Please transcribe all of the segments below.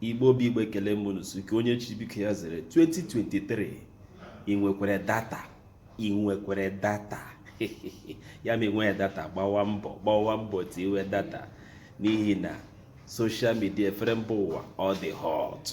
igbo bụ igbo ekele m unu nke onye chi biko ya zere 2023 ị nwekwara data ị nwekwara data ya ma enweghị data gbawa mbọ gbawa mbọ tiwe data n'ihi na soshal midia efere mba ụwa ọ dị hot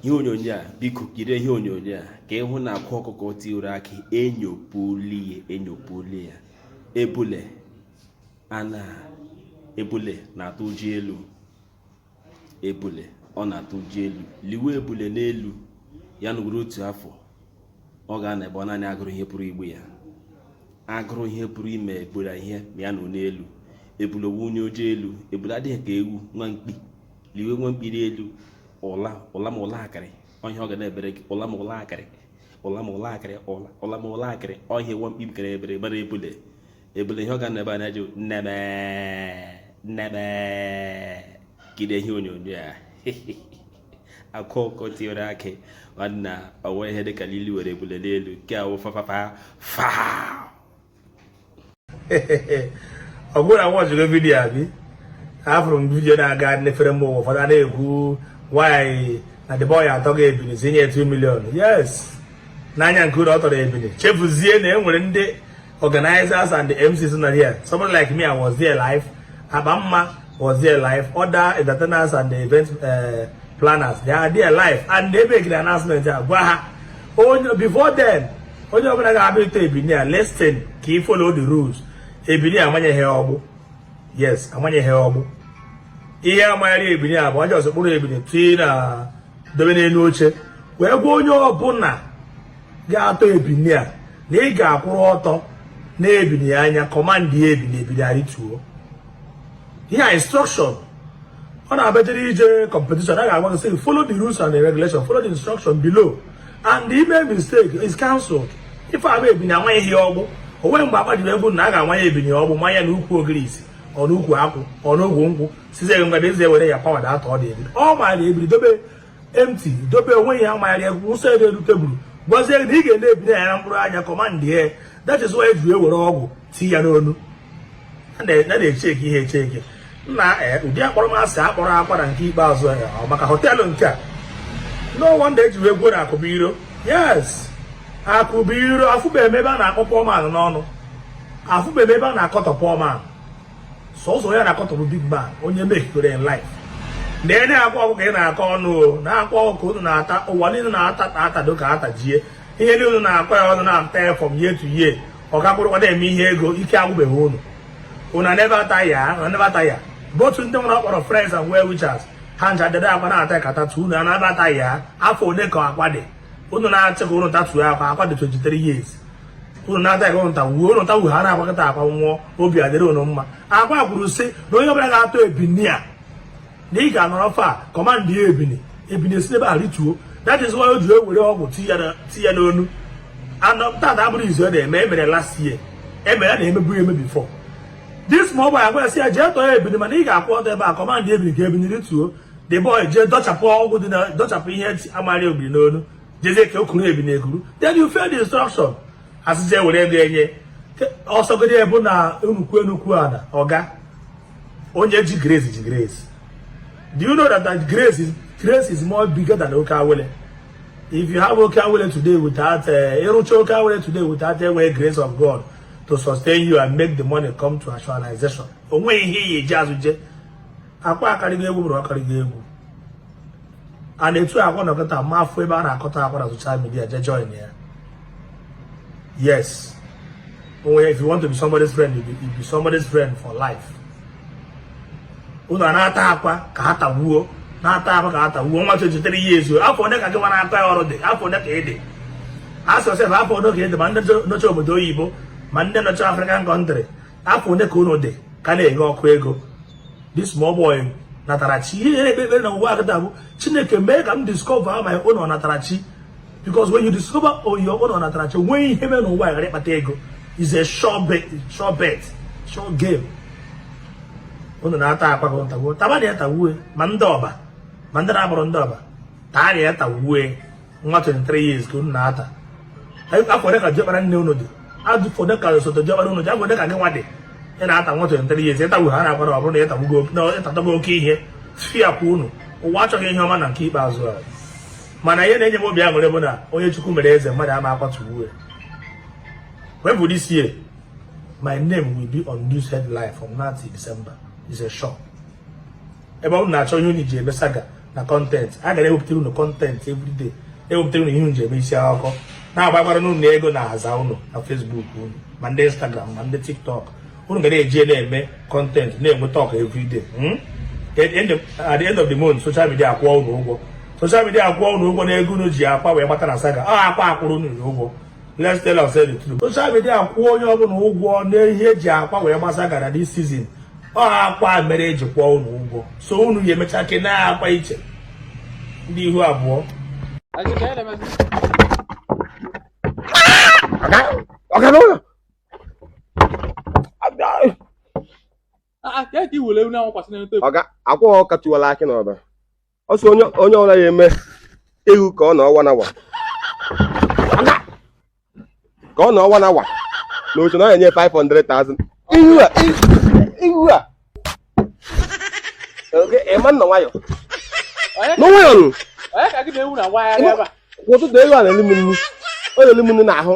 ihe onyonyo a biko jiri ihe onyonyo a ka ị hụ na akwa ọkụkọ tiwere akị enyopụli ya enyopụli ya ebule ana ebule na-atụ ụjọ elu ebule ọ na-atụ ụjọ elu liwe ebule n'elu ya nọrọ otu afọ ọ ga-anọ ebe ọ naanị agụrụ ihe pụrụ igbu ya agụrụ ihe pụrụ ime ebule ihe ma ya nọ n'elu ebule ọ wụ onye ụjọ elu ebule adịghị ka ewu nwa mkpi liwe nwa mkpi n'elu ụla ụla ma ụla akịrị ihe ọ ga na-ebere gị ụla ma ụla akịrị ụla ma ụla akịrị ụla ma ụla akịrị ihe nwa mkpi bikara ebere mana ebule ebule ihe ọ ga na-ebe anya jụ nneme nneme jide ihe onyonyo a akwa ọkụkọ tiwere akị nwanna ọwa ihe dịka lili were ebule n'elu nke a wụ fafafa fa ọ bụrụ na ị watchigo vidiyo abi afụrụ m vidiyo na-aga n'efere mba ụwa ụfọdụ a na-ekwu nwaanyị na the boy atọgo ebini tinye 2 million yes n'anya nke unu ọ tọrọ ebini chefuzie na e nwere ndị organizers and the MCs not here. Someone like me, I was there live. Abamma was there live. Other entertainers and the event uh, planners, they are there live. And they make the announcement. Oh, before then, onye ọbụla ga-abịa ịtọ ebini a listen ka ị follow the rules ebini amanyeghị ọgbụ yes amanyeghị ọgbụ ihe a manyere ebini a bụ onye ọsọ kpụrụ ebini tii na dobe n'elu oche wee gwa onye ọbụla ga-atọ ebini a na ị ga-akwụrụ ọtọ nee ebini anya kọmandị ya ebini ebini arịtuo ihe a instruction ọ na-abịajere ije competition a ga-agwa gị follow the rules and the regulation follow the instruction below and the ị mee mistake is cancelled ife a bụ ebini amaghị ihe ọgbụ o nweghị mgbe akpajiri egwu na a ga-amanye ebini ọgbụ manye ya n'ukwu ogirisi ọnụ ukwu akwụ ọnụ ogwu nkwụ sizie ngwa eze were ya pawa data ọ dị ebini ọ maara ebini dobe empty dobe onwe ya magharịa wụsa ya n'elu tebụl gwazie gị na ị ga-ene ebini a na mkpụrụ anya kọmandị ya that is why e ji ewere ọgbụ tii ya n'onu a na-echeki ihe echeki nna eh, ụdị akpọrọmasị akpọrọ akwa na nke ikpeazụ eh, ọ maka họteelụ nke a no wonder e ji wee kwuo na akụ bụ iro yes akụ bụ iro afụbeghị m ebe a na-akọ poor man ọnụ afụbeghị ebe a na-akọtọ poor man sọsọ ya na-akọtọrọ big man onye mehikere life na enye akwa ọkụkọ ka ị na-akọ ọnụ na akwa ọkụkọ unu na-ata ụwa niile na-ata atado ka atajie ihe niile unu na-akọ ya ọnụ na-ata ya from year to year ọ ka kwụrụkwa na-eme ihe ego ike agwụbeghị unu unu nebe ata ya nebe ata ya bụ otu ndị nwere ọ kpọrọ friends and well wishers ha ncha jide akwa na-ata ka atatuo unu ana-ata ya afọ ole ka akwa dị unu na-achọ ka unu tatuo akwa akwa dị 23 years unu na-ata ka unu tagbuo unu ta wughara agbakọta akwa nwụọ obi adịrị unu mma akwa kwuru sị na onye ọbụla ga-atọ ebini a na ị ga-anọrọ far command ya ebini ebini esi ebe a rituo that is why o ji ewere ọgwụ ti ya n'onu na tata abụrọ izizi ọ na-eme emere last year emere ya na-emebu eme before this ma ọ bụ agwa ya sị ya jee tọọ ebini mana ị ga-akwụ ọtọ ebe a command ebini ka ebini rituo the boy jee dọchapụ ọgwụ dị na dọchapụ ihe ntị amara ebini n'olu jezie ka o kuru ebini ekuru then you fail the instruction asịzi ewere ego enye ọsọgodi ebu na nnukwu nnukwu ada ọga onye ji grace ji grace do you know that, that grace is grace is more bigger than oke awele if you have oke awele today without eh, ịrụcha oke awele today without enwe grace of god to sustain you and make the money come to actualization o nwe ihe ị ya-eji azọ ije akwa akarịgo egwu bụrụ ọkarịgo egwu a na-etu akwa na ọkọta ma afọ ebe a na-akọtọ akwa na social media je join ya yes onwe if you want to be somebody's friend you be, you be somebody's friend for life unu a na-ata akwa ka ha tagbuo na-ata akwa ka ha tagbuo nwa 23 years afọ ole ka gị nwa na-ata ya ọnụ dị afọ ole ka ị dị ask yourself afọ ole ka ị dị ma ndị nọcha obodo oyibo ma ndị nọcha African country afọ ole ka unu dị ka na-enye ọkụ ego this small boy natara chi ihe na-ekpe ekpere na ụwa kịta bụ chineke mee ka m discover my own ọnatarachi because when you discover your own ọnatarachi o nwee ihe ị mee n'ụwa ghara ịkpata ego is a sure bet sure bet sure game unu na-ata akwa ka unu tagbuo tabanụ ya tagbuo ma ndị ọba ma ndị na-abụrọ ndị ọba taanụ ya tagbuo nwa 23 years ka unu na-ata afọ ole ka diọkpara nne unu dị afọ ole ka osote diọkpara unu dị afọ ole ka gị nwa dị ị na-ata nwa 23 years ịtagbu ha na-agbara ọ bụrụ na ịtagbugo ịtatugo oke ihe fia kwa unu ụwa achọghị ihe ọma na nke ikpeazụ a mana ihe na-enye m obi aṅụrị bụ na onye chukwu mere eze mmadụ ama akwatu uwe wepụ this year my name will be on news headline from now till December is a sure ebe unu na-achọ ihe unu ji eme saga na content a ga na-ewepụtara unu content everyday ewepụtara unu ihe unu ji eme isi akụkọ na-agbakwara n'ụlọ ego na-aza unu na facebook unu ma ndị instagram ma ndị tiktok unu ga na-eji na-eme content na-enweta ọka everyday hmm? at the end of the month social media akwụọ unu ụgwọ social media akwụọ unu ụgwọ na ego unu ji akwa wee kpata na saga ọ akwa akwụrụ unu ụgwọ Let's tell ourselves the truth. Social media akwụọ onye ọbụla ụgwọ n'ihe e ji Akwa wee gbasa gara this season. Ọ Akwa mere e ji kwụọ unu ụgwọ. So unu ya emecha kene Akwa iche. Ndị ihu abụọ. Ọga n'ụlọ. Ọga Akwa Ọkụkọ Tiwala Akị n'Ọba. ọ sị onye onye ọbụna ya eme ewu ka ọ nọọ one hour ka ọ nọọ one hour na otu na ọ enye 500,000 ihu a ihu a ị ma na nwayọ nwayọ nụ onye ka gị na ewu na nwa ya ebe a ụtụtụ ewu a na-elu m nnu ọ na-elu m nnu n'ahụ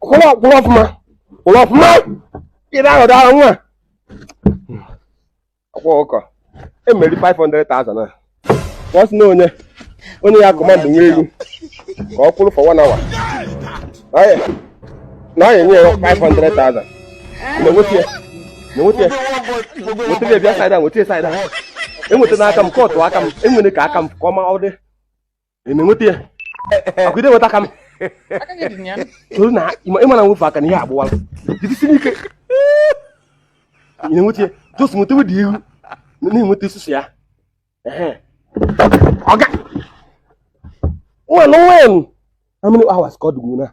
kwụrụ ọfụma kwụrụ ọfụma ịdị ahụ daa nwa Akwa Ọkụkọ emerie 500,000 a ọ sị na onye onye ya command nwa ewu ka ọ kwụrụ for one hour na ọ enye ya 500,000 na enweta ya na enweta ya nweta ya bịa side a nweta ya side a enweta n'aka m kọtụ aka m enwere ka aka m ka ọ ma ọ dị ị na-enweta ya ọkwa ị na-enweta ka m toro na ị ma na nwefe aka na ihe agbụwala jidesie ike ị na-enweta ya just nweta wedi ihu na-enweta isusu ya ọga ngwanụ ngwanụ how many hours ka ọ dịgbu na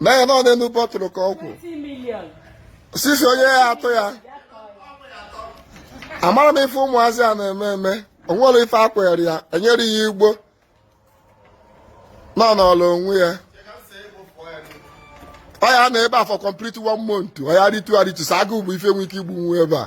na ya nọ n'elu bottle ka ọ kwụ sisi onye ya atụ ya amara m ife ụmụazị a na-eme eme o nwere ife akwere ya e nyere ya igbo nọ n'ọla onwe ya ọ ya anọ ebe a for complete one month ọ ya aritu aritu sọ agụụ bụ ife nwe ike igbu nwa ebe a